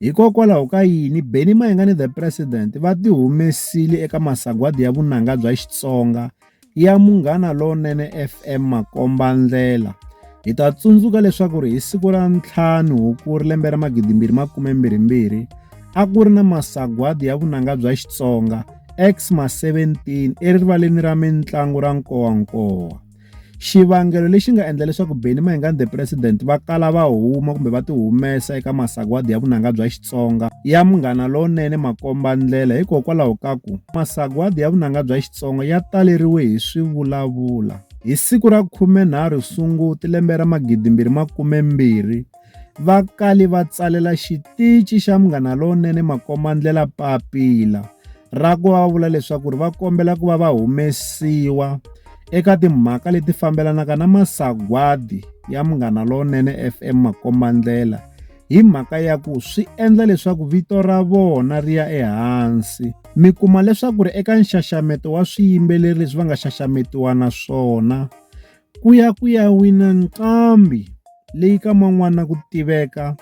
Hikokwalaho ka yini Benny Mayengani the President va ti humesile eka masagwadi ya vunanga bya Xitsonga ya Munghana Lonene FM Makombandlela. Hi ta tsundzuka leswaku ri hi siku ra ntlhanu Hukuri lembe ra magidi mbirhi makume mbirhi mbirhi a ku ri na masagwadi ya vunanga bya Xitsonga Xma 17 erivaleni ra mitlangu ra Nkowankowa. xivangelo lexi nga endla leswaku Benny Mayengani the president va kala va huma kumbe va ti humesa eka masagwadi ya vunanga bya Xitsonga ya munghana lowunene makomba ndlela hikokwalaho ka ku masagwadi ya vunanga bya Xitsonga ya taleriwe hi swivulavula hi siku ra 13 Sunguti lembe ra 2012 va kale va tsalela xitici xa Munghana Lowunene makombandlela papila ra ku va va vula leswaku ri va kombela ku va va humesiwa eka timhaka leti fambelanaka na masagwadi ya Munghana Lowunene FM makombandlela hi mhaka ya ku swi endla leswaku vito ra vona ri ya ehansi mi kuma leswaku ri eka nxaxameto wa swiyimbeleri leswi va nga xaxametiwa na swona Ku ya ku ya wina nqambi leyi ka man'wana ku tiveka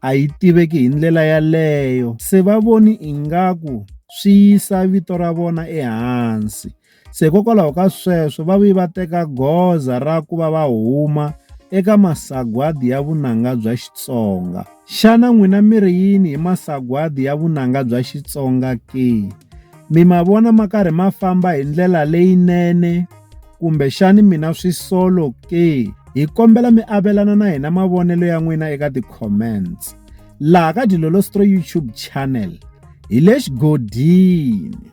a yi tiveki hi ndlela yaleyo se va voni ingaku swi yisa vito ra vona ehansi se hikokwalaho ka sweswo va vi va teka goza ra ku va va huma eka masagwadi ya vunanga bya Xitsonga xana n'wina mi ri yini hi masagwadi ya vunanga bya Xitsonga ke mi ma vona ma karhi ma famba hi ndlela leyinene. Kumbexani mi na swisolo ke? Hi kombela mi avelana na hina mavonelo ya n'wina eka ti-comments. Laha ka Dilolostro YouTube channel hi le xigodini.